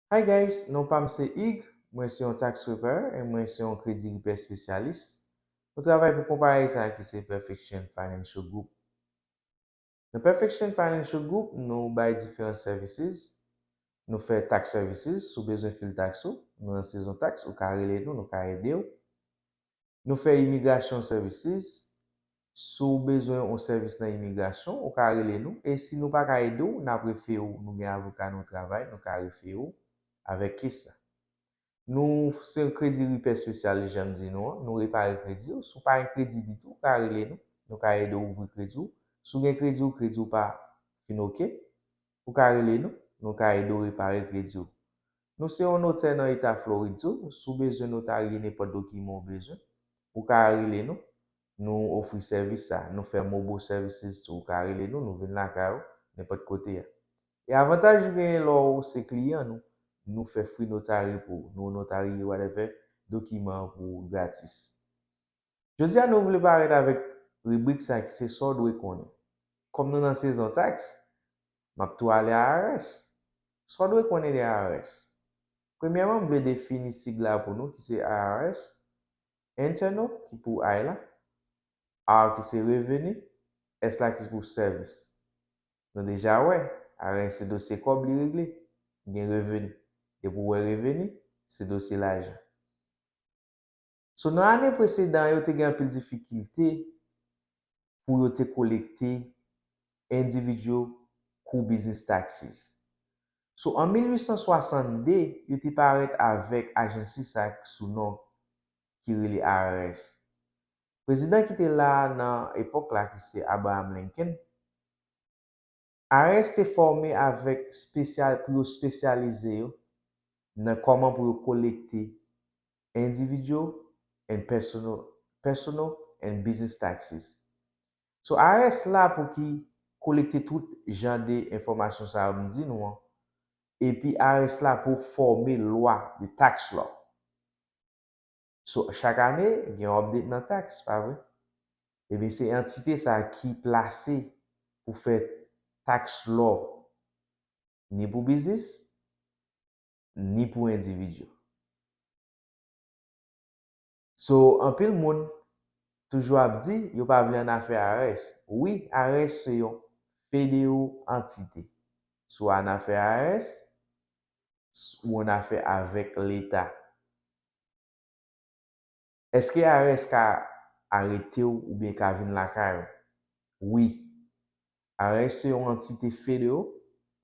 Hi guys non pam se Hugues mwen se yon tax preparer and mwen se yon kredi repair spesyalis mwen travay pou konpayi sa ki se perfection financial group nan perfection financial group nou bay diferan services nou fè tax services si w bezwen fil tax ou nou nan sezon tax ou ka rele nou nou ka edew Nou fè Immigration Services, si w bezwen yon sèvis nan imigrasyon, ou ka rele nou, e si nou pa ka ede w, n ap refere w, nou gen avoka nou travay, nou ka refere w avèk kes la. Nou se yon kredi ripè spesyalis jan m di nou an, nou repare kredi w, si w pa gen kredi ditou, ou ka rele nou, nou ka ede w ouvri kredi w, si w gen kredi w, kredi w pa fin ok, ou ka rele nou, nou ka ede w repare kredi w. Nou se yon notè nan eta Florid tou, si w bezwen notarye nenpòt dokiman w bezwen, ou ka rele nou, nou ofri sèvis sa. Nou fè mobile services tou, ou ka rele nou, nou vin lakay ou, nenpòt kote a. E avantaj ou genyen lè w se kliyan nou, nou fè free notary pou ou, nou notarye whatever dokiman pou ou gratis. Jodi a nou vle parèt avèk ribrik sa ki se sa w dwe konnen. Kòm nou nan sezon taks, m ap tou ale IRS. Sa w dwe konnen de IRS? Premyèman m vle defini sig la pou nou ki se IRS, Internal ki pou I la, R ki se reveni, S la ki pou sèvis. Nou deja wè, IRS se dosye kòb li regle. Gen reveni. Depi w wè reveni, se dosye lajan. So nan ane presedan yo te gen anpil difikilte pou yo te kolekte individual kou business taxes. So an 1862 yo te parèt avèk agency sa k sou non ki rele IRS. Prezidan ki te la nan epòk la ki se Abraham Lincoln, ARS te fòme avèk spesyal pou yo spesyalize yo nan kòman pou yo kolekte individual and personal personal and business taxes. So IRS la pou ki kolekte tout jan de enfòmasyon sa yo m di nou an epi IRS la pou fòme lwa, the tax law. So chak ane gen yon update nan tax pa vre? Ebyen se antite sa ki plase pou fè tax law ni pou biznis ni pou individu. So anpil moun toujou ap di yo pa vle annafè IRS. Wi IRS se yon fedeo antite. Si w annafè IRS, ou annafè avèk leta. Eske IRS ka arete w oubyen ka vin lakay ou? Wi. IRS se yon antite federo,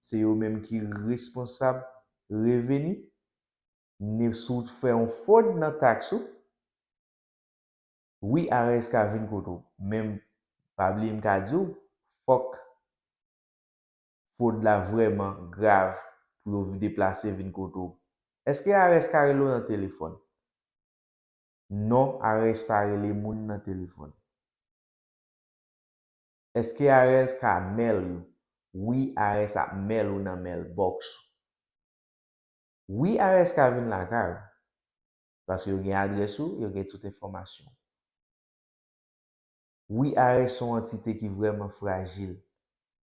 se yo menm ki responsab reveni ni si w fè yon fwod nan taks ou. Wi IRS ka vin kote w, men pa bliye m ka di w, fòk. fwod la vrèman grav pou yo deplase vin kote w. Eske IRS ka rele w nan telefòn? Non, IRS pa rele moun nan telefòn. Eske IRS ka mail ou? Wi, IRS ap mail ou nan mailbox ou. Wi, IRS ka vin lakay ou, paske yo gen adrès ou, yo gen tout enfòmasyon ou. Wi, IRS se yon antite ki vrèman frajil.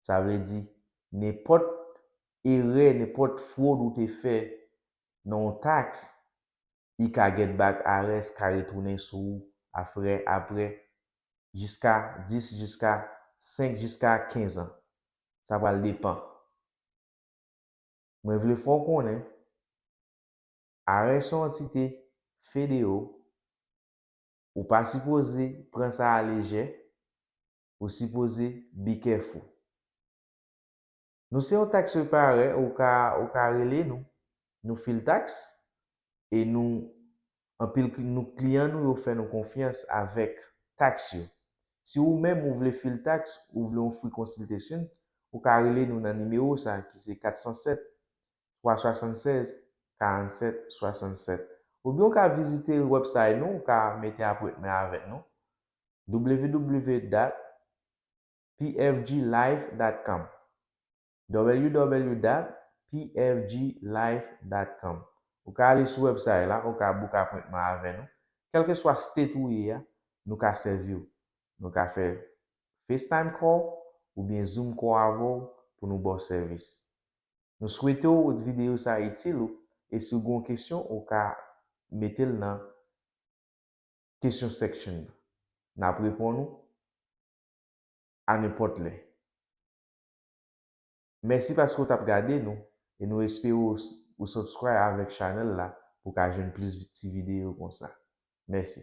Sa vle di, nenpòt erè, nenpòt fwod ou te fè nan yon taks, li ka get back, IRS ka retounen sou ou a frè aprè jiska 10 jiska 5 jiska 15 an. Sa pral depan. Mwen vle fè w konnen, IRS se yon antite federo, ou pa sipoze pran sa a lejè, ou sipoze be careful. Nou se yon tax preparer ou ka ou ka rele nou. Nou fil tax e nou anpil nou kliyan nou yo fè nou konfyans avèk tax yo. Si ou menm ou vle fil tax ou vle yon free consultation ou ka rele nou nan nimewo sa ki se 407 376 47 67 oubyen ou ka vizite website nou ou ka mete apwetman avèk nou www dat pfg life dat com www dat pfg life dat com ou ka ale sou website la ou ka book apwentman avè nou kelke swa state ou ye a nou ka sèviw nou ka fè facetime call oubyen zoom call avèw pou nou baw sèvis nou swetew video sa itil ou e siw gen yon kesyon ou ka metel nan. Kesyon section nan. N ap reponn ou anenpòt lè. Mèsi paske ou t ap gade nou e nou espere ou subscribe avèk channel la pou w ka jwenn plis ti videyo konsa. Mèsi.